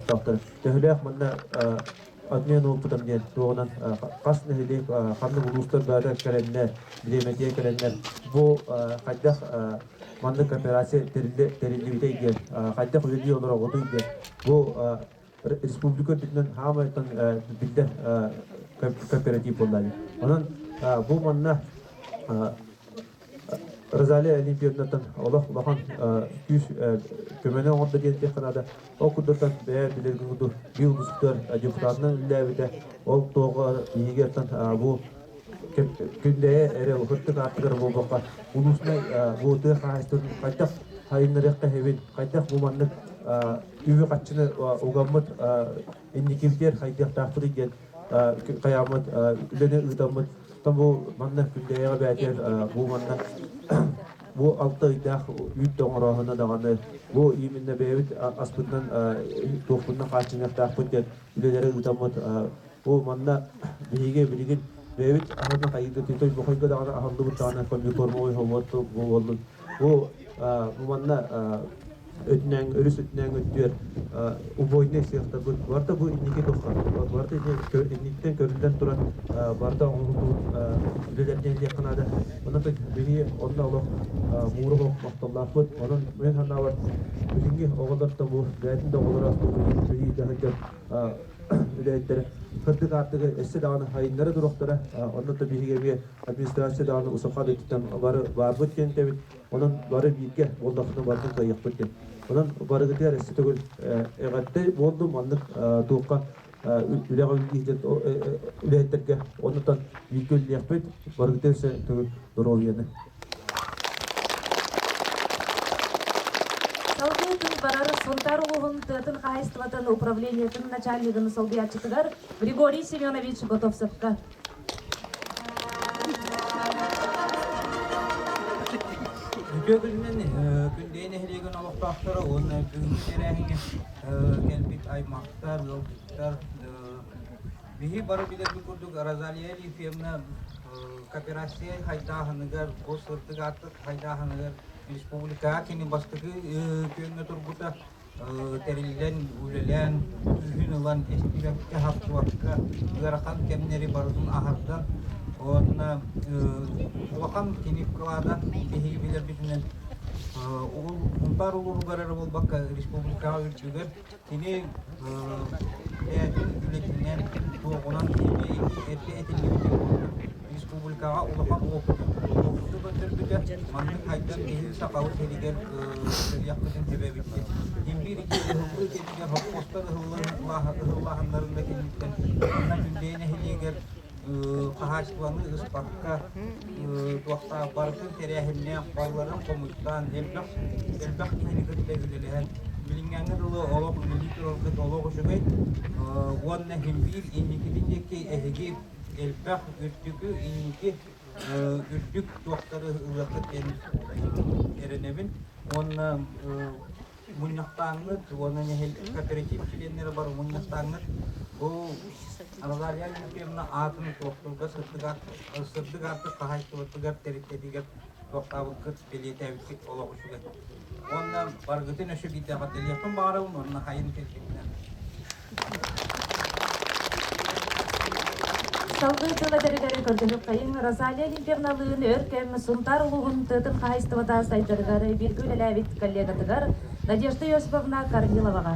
Топтон. Төһөлөөх манна отмен уопутам диэн туоҕунан хас нэһилиэк ханнык улуустар баара кэлэннэр, бириэмэтийэ кэлэннэр бу хайдах маннык кооперация тэриллибитэй диэн, хайдах үлэлии олороҕутуй диэн бу республика үрдүнэн хаамайтан биллэр кооператив буолла. Онон бу манна Розалия Алибьевнаттан олох улахан күүс көмөнү оҥордо диэтэххэ наада. Ол курдуктан бэйэ билэргэ курдук биыл бустар депутатынан үллээбитэ. Ол тоҕо иһигэртэн бу күндэйэ эрэ ытык артыгар буолбакка улуусунай бу тыа хаһаайыстыбатын хайдах сайыннарыахха эһэбин, хайдах бу маннык үбү-харчыны угаммыт инникитин хайдыахтаахпытый диэн хайааммыт үлэни ыытаммыт Там бу манна күндэйэҕэ бээтэр бу манна бу алта ыйдаах үүт оҥорооһуна даҕаны бу именно бэйэбит аспытынан туохпунна хааччыныахтаахпыт диэн үлэлэри ыытаммыт бу манна биһиги билигин бэйэбит аһынан хайыта тытой бохойго даҕаны аһыллыбыт даҕаны комбикормовой холуот буоллун бу манна өтүнэн өрүс өтүнэн өттүөр убойнай сыахтабыт барда бу инники дохха барда инниттэн көрүллэн туран барда оҥоһуллубут үлэлэрден диэххэ наада онон биһи онно олох мууруһу мохтоллоохпут онон мин санаабар билинги оҕолор да бу бээтин да оҕолор асты билии таһырга үлэһиттэрэ кырдык артыгы эссе даҕаны хайыннары турохтара онно да биһиги эмиэ администрация даҕаны усаха дыттан бары барбыт кентэбит Онон бары бииргэ буоллахпына барытын кыайыахпыт диэн. Онон барыгытыгар өссө төгүл эҕэрдэ буоллум маннык туохха үлэҕэ үлэлиир үлэһиттэргэ оннуттан бииргэ үлэлиэхпит барыгытыгар өссө төгүл доруобуйаны Салгыы күн барар Сунтаар улууһун тыатын хаһаайыстыбатын управлениетын начальнигын солбуйааччытыгар Григорий Семенович Готовцевка Үтүө күнүнэн Күндэй нэһилиэгин олохтоохторо уонна бүгүҥҥү тэрээһиҥҥэ кэлбит аймахтар, ыалдьыттар биһи бары билэрбит курдук Розалия Ефимовна кооперация хайдааһыныгар, бу сырдык ааттык хайдааһыныгар республикаҕа кини бастакы күөҥҥэ турбута. тэриллэн, үлэлээн, күһүн ылан эстибэккэ, хаппыакка ыарахан кэмнэри барытын аһардан, уонна улахан кини вкладан биһиги билэрбитинэн угул бар улуругар эрэ буолбакка республикаҕа үрдүгэр кини бэйэтин үлэтинэн, туоҕунан эмиэ этиллибитин курдук республикаҕа улахан уопуту көтөрбүтэ. Маннык хайдах киһи сахабыт сиригэр кыриахпытын сүбэбитин. Имбир икки кэмигэр хоппостор ыһыллааһыннарын да киниттэн манна Күрдэй нэһилиэгэр хаһаачыстыбаны ыспакка туохтаах барытын тэрээһиннээх балларын хомуттаан элбэх элбэх киһини кытта үлэлэһэн билиҥҥэҥҥи дылы олох үлэлии тураргыт олох үчүгэй уонна имбир инникитин диэки эһиги элбэх үрдүкү инники үрдүк туохтары ылыаххыт диэн эрэнэбин уонна мунньахтааҥҥыт уонна нэһилиэк кооператив чилиэннэрэ бар мунньахтааҥҥыт бу Арагалия Алексеевна аатын туохтуурга сырдык аартык хаһаайыстыбатыгар тэрилтэтигэр туохтаабыккыт бэлиэтээбиппит олох үчүгэй уонна баргытын өшүгүйдэҕэ дэлиэхпин баҕарабын уонна хайын кэлбитинэн Салгыы дьыл эдэригэр көрдөнүк хайын Розалия Лилбевналыын өр кэм Сунтаар улууһун тыатын хаһаайыстыбата сайдарыгар бииргэ үлэлээбит коллегатыгар Надежда Иосифовна Корниловаҕа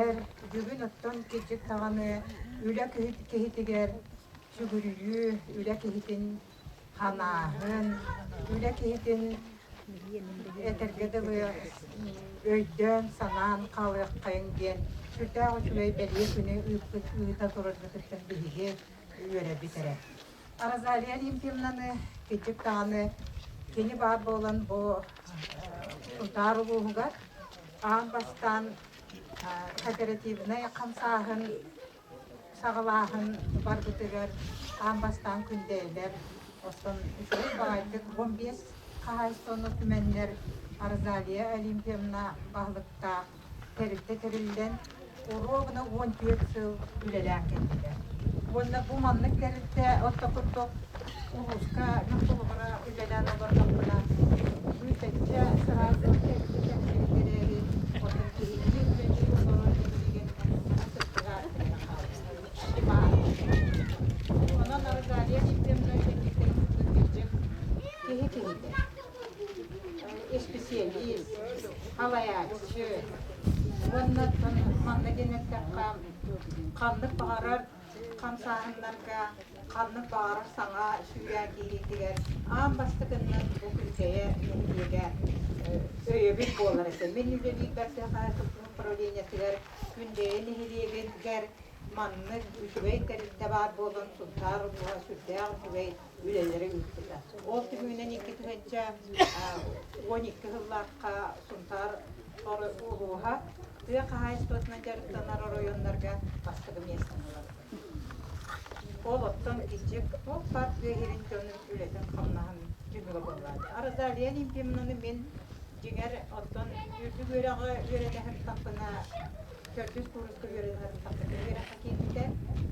Эр, бүгүн оттон кирдьик даҕаны үлэ киһитигэр сүгүрүйүү, үлэ киһитин санааһын, үлэ киһитин этэргэ дылы өйдөөн-санаан хаалыаххайыҥ диэн сүрдээх үчүгэй бэлиэ күнү ыыта тураргытыттан биһиги үөрэбит эрэ. Розалия Алимпьевнаны кырдьык даҕаны кини баар буолан бу Утаар улууһугар аан бастаан кооперативнай хамсааһын саҕалааһын барбытыгар аан бастаан Күндэйэлэр оттон үчүгэй баҕайытык он биэс хаһаайыстыбаны түмэннэр Розалия Олимпьевна баһылыктаах тэрилтэ тэриллэн, оруобуна уон түөрт сыл үлэлээн кэллилэр. Уонна бу маннык тэрилтэ орто курдук улууска наптолугура үлэлээн олордохпуна, бүүсэччэ сыраасык кэккэтэ кэлин эрээри, оттон киһини үлэлии олорор иннигэр саҥа сыттыга Онон Рогалия Ефимовна киниттэн кыттыыр киһитэ. исписэлиис, халайааччы уонна манна диэн эттэххэ ханнык баҕарар хамсааһыннарга ханнык баҕарар саҥа сүүрээн киириитигэр аан бастакыннан бу күндэйэ нэһилиэгэ өйөбүл буолар этэ. Мин үлэлиир Бэрсэхэ управлениетыгар Күндэйэ нэһилиэгингэр маннык үчүгэй тэрилтэ баар буолан Сунтаар улууһа сүрдээх үчүгэй үлэлэрин ыыппыта. Ол түмүгүнэн икки тыһыынча уон икки сыллаахха Сунтаар улууһа тыа хаһаайыстыбатынан дьарыктанар оройуоннарга бастакы миэстэни ыларга. Ол оттон кичик туох баар тыа иһирин дьонун үлэтин-хамнаһын түмүгэ буоллаат. Арада Лена Ефимовна мин дьиҥэр оттон үрдүк үөрэҕи үөрэтэ сырыттахпына Төрдүс куурус кыһыарыыларын бастакы үөрэххэ киирбитэ.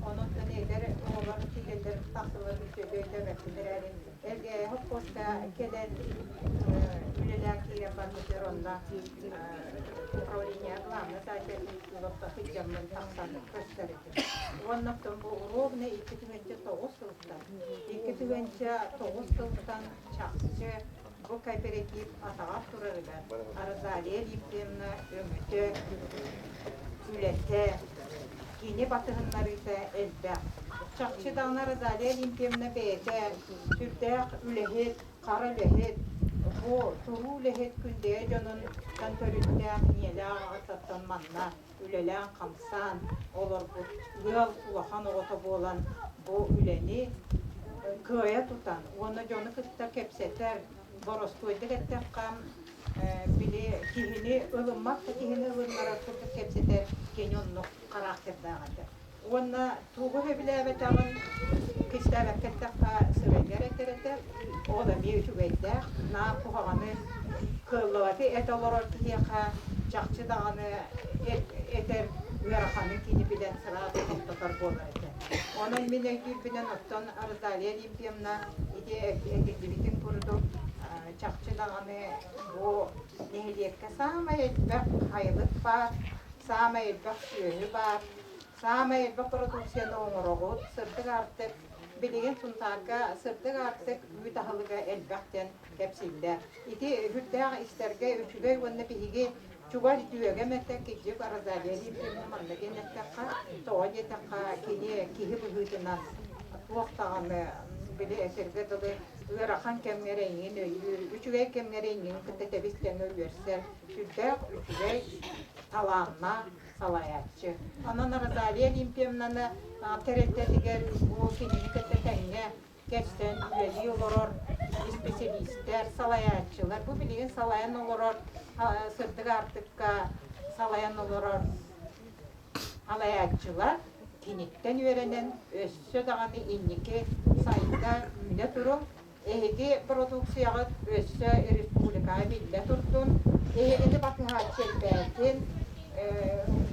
Онуттан эдэр оҕолор киирэллэр тахсаллар үчүгэйдик өйдөөбөппүн эрээри, эргээһи хоско кэлэн үлэлээн киирэн барбытыгар онно управление главнай таайдатын олохто сылдьаммын тахсан көстөр этим. Уонна оттон бу ровно икки түгэнчэ тоҕус сылтан, икки түгэнчэ тоҕус сылтан чахчы Бу кооператив атаҕар турарыгар Розалия Ефремовна өҥөтө, үлэтэ, кини батыһыннарыыта элбэх. Чахчы даҕаны Розалия Ефремовна бэйэтэ сүрдээх үлэһит, хара үлэһит, бу туруу үлэһит Күндэйэ дьонун тан төрүттээх, ийэлээх аҕатыттан манна үлэлээн-хамсаан олорбут ыал улахан оҕото буолан бу үлэни кыайа тутан уонна дьону кытта кэпсэтэр, боростуойдук эттэххэ, били киһини ылыммат да киһини ылыннарар курдук кэпсэтэр кини оннук характердаах этэ. Уонна тугу сөбүлээбэтэҕин кистээбэккэ эттэххэ, сыбайгар этэр этэ. Ол эмиэ үчүгэйдээх. Наар куһаҕаны, кыаллыбаты эт олорор киһиэхэ чахчы даҕаны этэр ыараханы кини билэн сыраҕы хомтотор буолар этэ. Онон мин өйдүүрбүнэн оттон Роталия Олимпьевна ити этиллибитин курдук, чахчы даҕаны бу нэһилиэккэ саамай элбэх айылык баар, саамай элбэх сүөһү баар, Саамай элбэх бородууксуйаны оҥороҕут, сырдык аартык. Билигин Сунтаарга сырдык аартык үүт аһылыга элбэх диэн кэпсииллэр. Ити сүрдээх истэргэ үчүгэй уонна биһиги чугас дьүөгэм этэ Кидьик Розалия Ефимовна манна диэн эттэххэ, тоҕо диэтэххэ, кини киһи быһыытынан туох даҕаны били этэргэ дылы ыарахан кэмҥэ эрэ эҥин өйүүр, үчүгэй кэмҥэ эрэ эҥин кытта тэбис-тэҥэ үөрсэр сүрдээх үчүгэй, талааннаах, салайааччы. Онон Розалия Олимпьевнаны тэрилтэтигэр бу кинини кытта тэҥҥэ кэлсэн үлэлии олорор исписэлиистэр, салайааччылар, бу билигин салайан олорор сырдык аартыкка салайан олорор салайааччылар киниттэн үөрэнэн өссө даҕаны инники сайда үүнэ турун Эһиги продукцияҕыт өссө республикаҕа биллэ турдун, эһигини батыһааччы элбээтин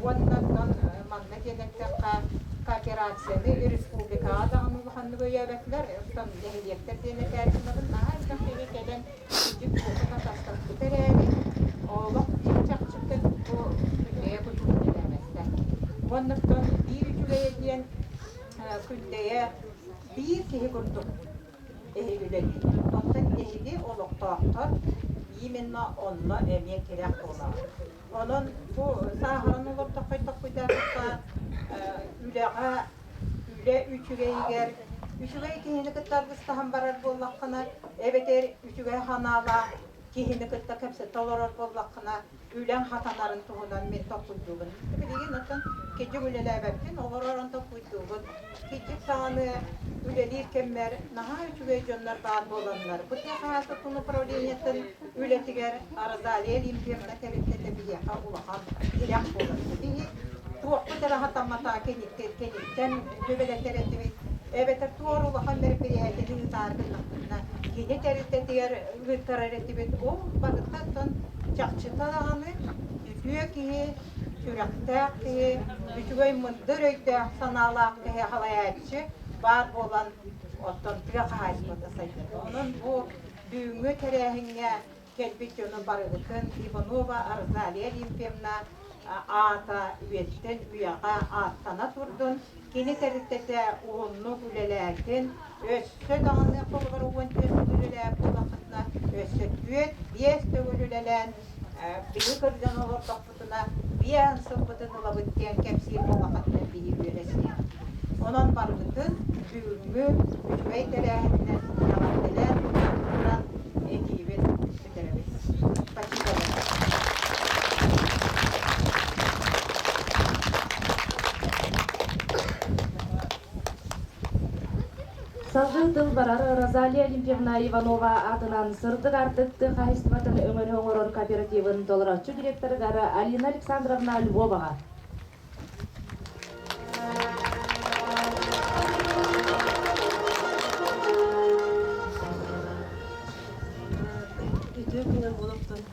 уонна оттон манна диэн эттэххэ, кооперацияны республикаҕа даҕаны улаханнык өйөөбөтүлэр, оттон нэһилиэктэр диэн этээччилэрин наһаа элбэх киһи кэлэн кырдьык туотун атастаспыта эрээри, олох биир чахчыттан бу күндэйэ кутурук үлэлээбэттэр. Уонна оттон биир үчүгэйэ диэн, күндэйэ биир киһи курдук Өһүлэлиир. Оттон биһиги олохтоохтор, именно онно эмиэ тирэх буолаҕын. Онон бу сааһыран олордох хайдахпыйдатыкка үлэҕэ, үлэ үчүгэйигэр, үчүгэй киһини кытта аргыстаһан барар буоллаххына, эбэтэр үчүгэй санаалаах киһини кытта кэпсэтэ олорор буоллаххына, үлэҥ хатанарын туһунан мин толкуйдуубун. Билигин оттон киджик үлэлээбэппин, олоророн толкуйдуубун. Киджик даҕаны үлэлиир кэммэр наһаа үчүгэй дьоннор баар буоланнар, бу тыа хаһаайкатын управлениетын үлэтигэр Розалия Олимпьевна тэрилтэтэ биһиэхэ улахан тирэх буолар. Ити туохпут эрэ хатаммата киниттэн Сүбэлэтэр этибит, эбэтэр туора улахан бэрэпирээтин ыытаатыннахпытына, кини тэрилтэтигэр ыытарар этибит. Ол барытыттан чахчыта даҕаны үтүө киһи, сүрэхтээх киһи, үчүгэй мындыр өйдөөх, санаалаах киһи халайааччы баар буолан, оттон тыа хаһаайыстыбата сайдар. Онон бу бүгүҥҥү тэрээһиҥҥэ кэлбит дьону барыбытын Иванова Розалия Олимпьевна аата үйэттэн үйэҕэ ааттана турдун, кини тэрилтэтэ уһуннук үлэлээтин, өссө даҕаны холобур уон түөспүт үлэлээх буоллаххытына, өссө түөрт, биэс төгүл үлэлээн, биһи кырдьан олордохпут сылбытына биээн сылбытын ылабыт диэн кэпсиир буоллаххытына киһи үөрэ-сиһэ. Онон барыбытын бүгүҥҥү үчүгэй тэрээһининэн эҕэрдэлээн туттаран этиибин бүтэрэбин. Спасибо большое. Салгыы тыл барар Розалия Олимпьевна Иванова аатынан сырдык артык тыа хаһаайыстыбатын өҥөнү оҥорор кооперативын толорооччу директорыгар Алина Александровна Львоваҕа Үтүө күнү олохтон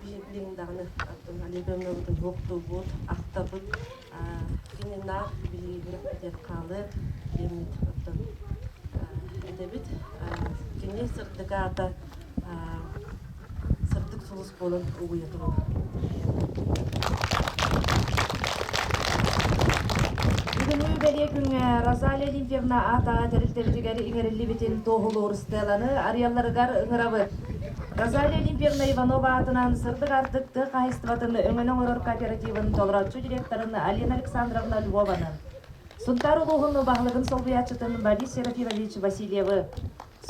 Билиллиҥ даҕаны Наталья Ивановна туһуохтуубут, ахтабыт. Кинина билиигэ диэн хаалыа диэммит оттон этэбит. Кини сырдык аата сырдык сулус буолан угуйа туруо. Бүгүнү бэлиэ күҥҥэ Розалия Лильвьевна аата тэрилтэбитигэр иҥэриллибитин туоһулуур стеланы арыйалларыгар ыҥырабыт. Розалия Олимпьевна Иванова аатынан сырдык-ардык тыа хаһаайыстыбатын өҥөнү оҥорор кооперативын толорооччу директорын Алина Александровна Львованы, Сунтаар улууһун баһылыгын солбуйааччытын Борис Серафимович Васильевы,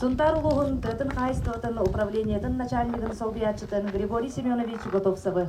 Сунтаар улууһун тыатын хаһаайыстыбатын управлениетын начальнигын солбуйааччытын Григорий Семенович Готовцевы,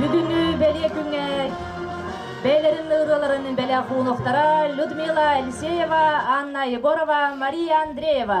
Бүгүнү бэлиэ күҥҥэр бэйэлэрин ырыаларын бэлэх уунуктара Людмила Алексеева, Анна Егорова, Мария Андреева.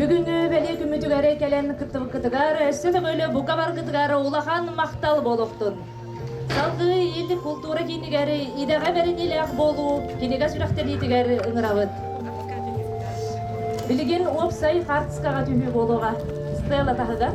Бүгүнгү бэлиэ күммүтүгэр кэлэн кыттыбыккытыгар өссө көмөлө бука баргытыгар улахан махтал болуктун. Салгыы Иитик култуура киинигэр идэҕэ бэриниилээх буолуу кинигэ сүрэхтэниитигэр ыҥырабыт. Билигин уопсай хартскаҕа түһүү буолуоҕа. Стелла таһыгар.